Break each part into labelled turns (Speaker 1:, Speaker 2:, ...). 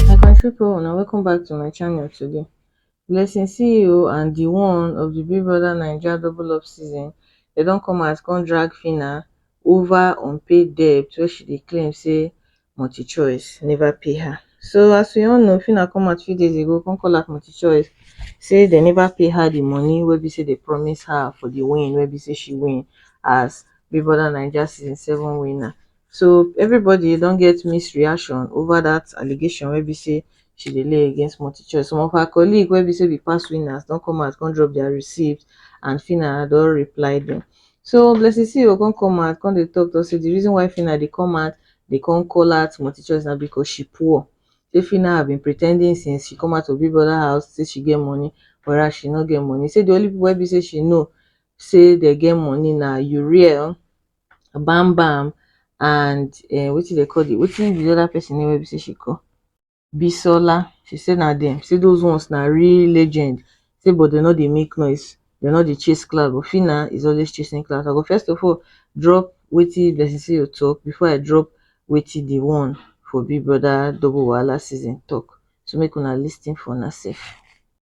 Speaker 1: My country people una welcome back to my channel today. Blessing CEO and the one of the Big Brother Naija double up season, they don come out come drag Phyna over unpaid debt wey she dey claim say multichoice neva pay her so as we all know Phyna come out few days ago come call out multichoice say dem neva pay her di money wey be say dem promise her for di win wey be say she win as big brother naija season seven winner so everybody don get mixed reaction over dat allegation wey be say she dey lay against multichoice some of her colleague wey be say be past winners don come out come drop dia receipt and Phyna don reply dem so Blessing Ceo come come out come dey talk talk say di reason why Phyna dey come out Dey come call her to multichoice na because she poor Shey Phyna have been pretending since she come out of Big Brother house say she get money whereas she no get money, say the only people wey be say she know say dem get money na Uriel, Bam Bam and um wetin dem call the wetin be the other person name wey be say she call? Bisola, she say na dem, say those ones na real legend, say but dem no dey make noise, dem no dey chase clout, but Phyna is always chasing clout. I go first of all drop wetin Blessing Seyo talk before I drop wetin the one for Big Brother Double Wahala season talk, so make una lis ten for una sef.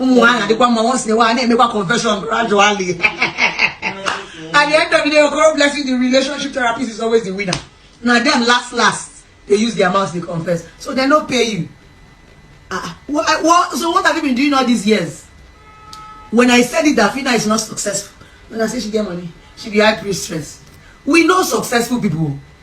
Speaker 1: ụmụ ha na-adịkwa mma once in a while na-emekwa confession gradually at the end of the day okoro blessing the relationship therapist is always the winner na dem last last dey use their mouth dey confess so dem no pay you ah what, what, so what have you been doing all these years when i said it that fina is not successful when i say she get money she be high priestess we know successful people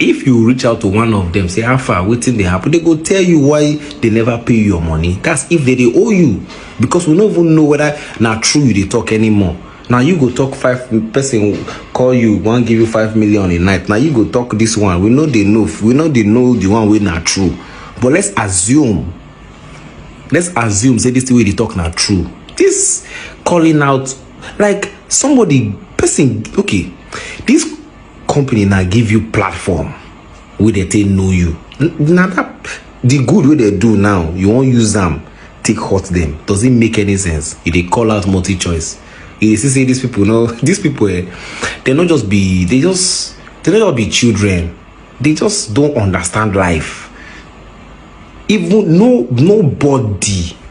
Speaker 1: if you reach out to one of them say how far wetin dey happen they go tell you why they never pay your money that's if they dey owe you because we no even know whether na true you dey talk anymore na you go talk five person call you wan give you five million a night na you go talk this one we no dey know we no dey know the one wey na true but let's assume let's assume say this thing wey you dey talk na true this calling out like somebody person okay this company na give you platform wey dey take know you na that the good wey dey do now you wan use am take hurt them does it make any sense you dey call out multi choice you dey see say these people no these people eh they no just be they just they no just be children they just don't understand life even no nobody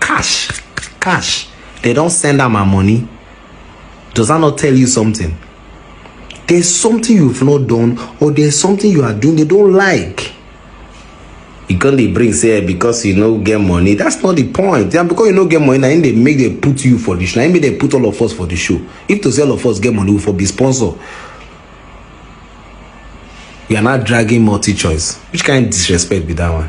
Speaker 1: cash cash they don send am her money does that not tell you something there's something you've not done or there's something you are doing they don't like you come dey bring say eh, because you no get money that's not the point and because you no get money na im dey make dem put you for the show na im make dem put all of us for the show if to say all of us get money we for be sponsor you are now dragging multi choice which kind disrespect be that one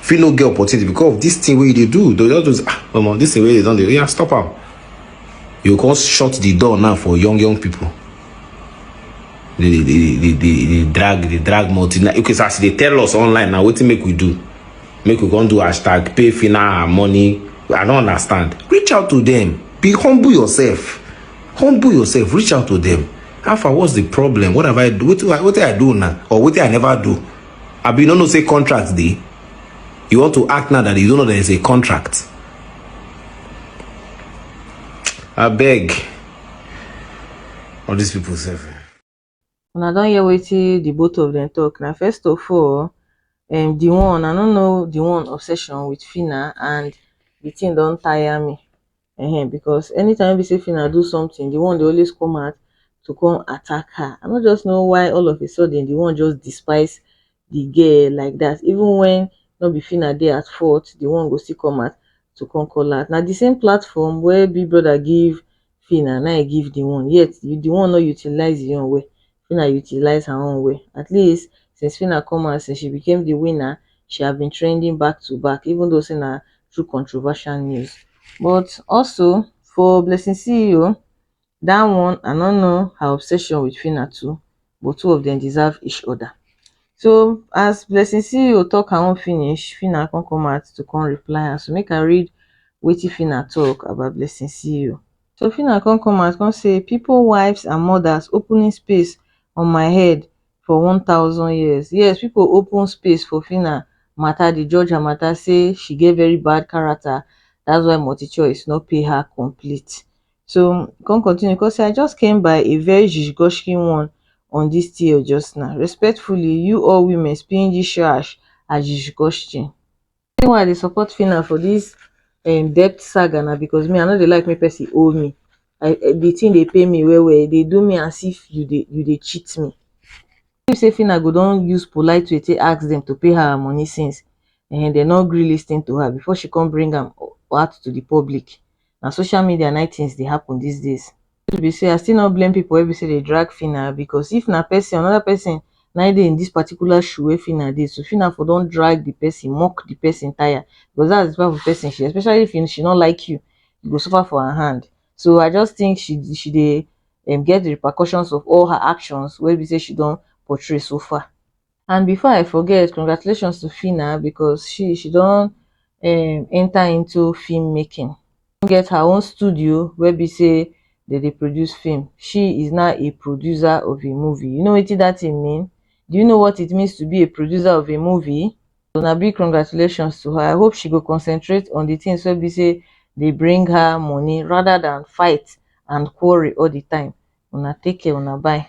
Speaker 1: fit no get opportunity because of this thing wey you dey do they just do ah omo this thing wey you don dey yeah stop am you go come shut the door now for young young people they dey dey dey dey dey drag dey drag multi na okay so as you dey tell us online na wetin make we do make we come do hashtag pay fina her money i no understand reach out to them be humble yourself humble yourself reach out to them how far what's the problem what have i do wetin i wetin i do una or wetin i never do abi you no know say contract dey you want to act now that you don't know there is a contract I beg. all these people sef eh. una don hear wetin the both of them talk na first of all um, the one i no know the one obsession with fina and the thing don tire me um because anytime wey be sey Phyna do something, the one dey always come out to come attack her. I no just know why all of a sudden the one just despise the girl like that. Even when no be Phyna dey at fault, the one go still come out to come call her out. Na the same platform wey Big Brother give Phyna, na im e give the one. Yet, the one no utilize e own well. Phyna utilize her own well. At least, since Phyna come out since she became the winner, she have been trending back to back even though say na through controversial news. But also, for Blessing CEO, that one I no know her obsession with Phyna too but two of them deserve each other. So as Blessing CEO talk her own finish, Phyna come come out to come reply her. So make I read wetin Phyna talk about Blessing CEO. So Phyna come come out come say pipo wives and mothers opening space on my head for one thousand years. Yes pipo open space for Phyna mata dey judge her mata say she get very bad character that's why multichoice no pay her complete. So e come continue come say I just came by a very zhizhgoshki one on dis TL just now. Respectfully you all women spinjishash and zhizhgoshchin. The reason why I dey support Phyna for this um debt saga na because me I no dey like make person owe me I the thing dey pain me well well e dey do me as if you dey you dey cheat me you think say Phyna go don use polite way take ask them to pay her her money since um dem no gree lis ten to her before she come bring am out to the public na social media nai things dey happen these days truth be sey i still no blame people wey be sey dey drag Phyna because if na person another person nai dey in this particular shoe wey Phyna dey so Phyna for don drag the person mock the person tire because that's the type of person she is especially if she no like you you go suffer for her hand so i just think she dey she dey get the repercussions of all her actions wey be sey she don portray so far. and before i forget congratulations to phyna because she she don um enter into film making come get her own studio wey be say dem dey produce film she is now a producer of a movie you know wetin that thing mean do you know what it means to be a producer of a movie so na big congratulations to her i hope she go concentrate on the things wey be say dey bring her money rather than fight and quarrel all the time una take care una bye